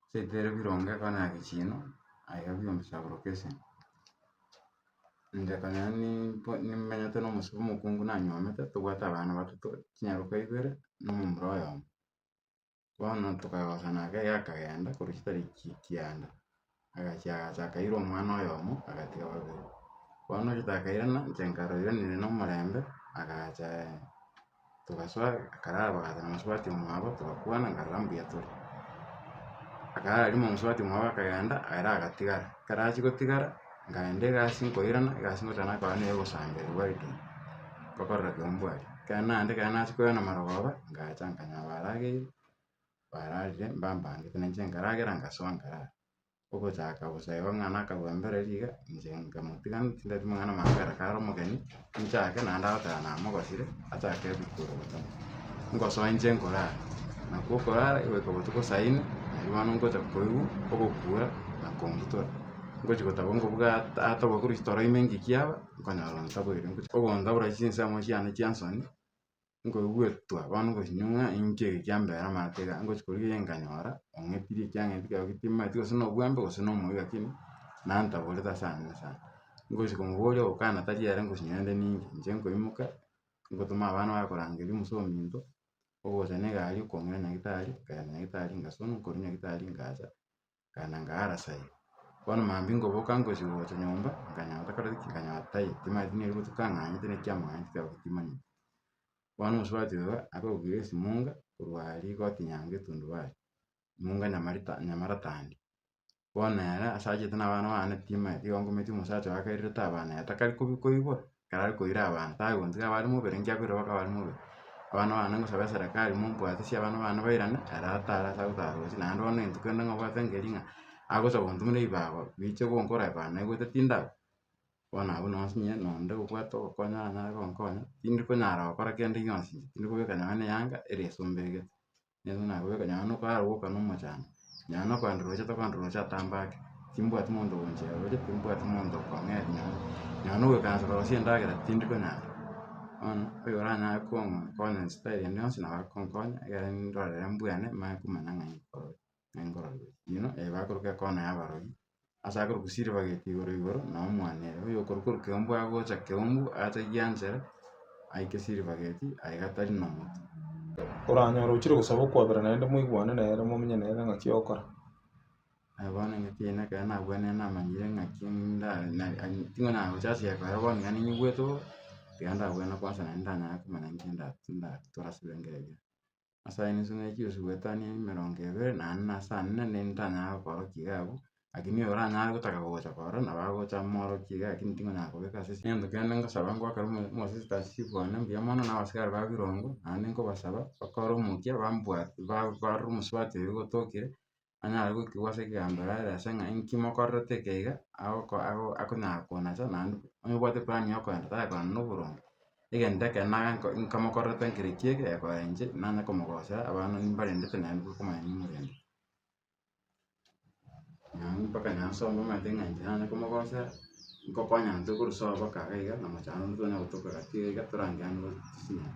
chitiri bironge konya egechiino, aye gabia omosaburo bwa esegi. Inche konya nimpo nimenyete na omosubwa omokungu nanywomete, tobwate abana batato, chinyaroka ibere, na omomura oyomo. Bono tokagosana ake iga akagenda korwa chitari ki- kianda. Agachia agacha akaira omwana oyomo, agatiga babere. Bono ritakairana, inche nkaroira nere nomorembe, agacha togasoa akarara bagacha na mosubati omwabo togakwana nkarora mbuya tore. Akarara rimo mosubati omwabo akagenda ere agatigara, ekero achia gotigara, nkagenda egasi nkoirana, egasi ngoteba nakora neye ogosamba erio gware kei, ngokorera kei ombwate. Ekero naende ekero nachia koirana marogoba, ngacha nkanya abarageire. bararire mbambangete na inche nkaragera ngasoa nkarara. Ogochaka bosa igo ng'ana akagwa mbere riga, inche nkamotiga tindati mang'ana manga ekero kare omogeni, nchake naende agoteba namogosire, achake goikwa ogocha. Ngosoa inche nkorara, nakwo okorara goika botuko saa inwe, nario bono ngocha koigwa ogokura na kongitora. Ngochi gotaba ngobuga at- atogwe korwa ase toro ime ng'ekiaba, nkonyora ontaboire, ogontabora chinsa amo chiane chiansoni. nkoigwetwa bono gosio ng'a inki eke kiambeire amaate igaa, ngochi koria kegeni nkanyora ong'etire ekiang'enete kiago gete timomanyeti gose nobwembe gose nomoibi lakini nantaborete ase ane ase ane. Ngochia komoboria ogokana tari ere ngochia nyoe nde ninke, inche nkoimoka ngotuma abana bare korangeria omosee ominto, ogocha na egari okong'ina nyagetari, nkaenda nyagetari ngasonwa, nkorwa nyagetari ngacha. nkaenda nkaara sayi. Bono maambia nkoboka ngosibwa gocha nyomba, nkanyora kare nkanyora tai timanyeti nigo aria botuko ang'anyete naki amanyete kare goika timanyeti. Bono omosubati oyo akagokigera esimunga korwa aria egoti nyango etundubari, emunga nyamarita nyamaratandi. Bono ere ase achete na abana bane timanyeti igo nkominyokia omosacha oyo akairerete abana ere takari kobi koibora. ekero are koira abanto tagotiga abare mobere ekiagera korwa bakaba bare mobere. Abana bane ngosaba eserekari mombwatisi abana bane bairane ere atare ase agotara roche naende bono ne rituko rinde ngobwate nkeri ng'a agocha gontumera ebibago biche gonkora ebago naye gobwate tindaba, bono abwo nonsi inye nonde gobwate ogokonya nanyare gonkonya, tindi konyara gokora kende gionsi inche, tindi kobeka nyawe na eyanga ere esomba egete. Yeso nabwate kanyara nokara goka nomochando, nyara nokogenda roche tokogenda roche atambe ake, timbwati monto ogonchera roche, timbwati monto okong'eria nyare, nyara nogoikaransa korora ase endagera tindi konyara, bono oyo oranyare konkonya inspire ende yonsi nabo akonkonya ekero ndorire mbwene manye komanya ng'a nkorore, nkorore. Inwe, eh bakoroka ekona ya abarwani. Ase akorokwa Silvergate igoro igoro na omwane ere oyo okorokwa Orokembu agocha Keumbu ategie Angela aike Silvergate aye gatari na moto. Oranyore ochire gosaba okwabera naende moigwane nere momenye nere ng'aki okora. Aye bono ng'aki yaino ekero nabwenerete namanyire ng'aki ndare na- na- ting'o nagocha ase eye ekero bono iga ninyigwete bobe, iga ndabwenerete kwansa naende ndanyare komanya inki nda- ndatore ase ebirengererio. ase aye ninse ne chibesa goetania ne emerongo ebere, na ane nase ane na nere ntanyare gokorokia iga abwo, lakini oyo oranyare gotaka gocha korora, nabo agocha amorokie iga lakini tingonyara kobeka ase esegi. Egento kende ngosaba ngoakera omo- omosista chief one mbuya mono na abasikari ba birongo, naende nkobasaba bakore omokia bambwate ba- barore omosubati oyo ogotokire, anyare goitigwa ase ekeganderoo are ase ng'a inki mokorerete eke iga, agoko ago akonyara koona ase naende onye obwate eplan ya okoenda takoenda na oboronge, egento ekero naye nko nkomokorerete nkere ekiya eke ekorenche, nanye komogosera abana nimbarendete naende nigo okomanya nimorendete. Naende mpaka naende ase omonto omanyete ng'a inche nanye komogosera. Nkokonya intwe korwa sobo mpaka iga iga, na mochando onde tonya gotoka gati iga iga torange ang'e gose tosinyare.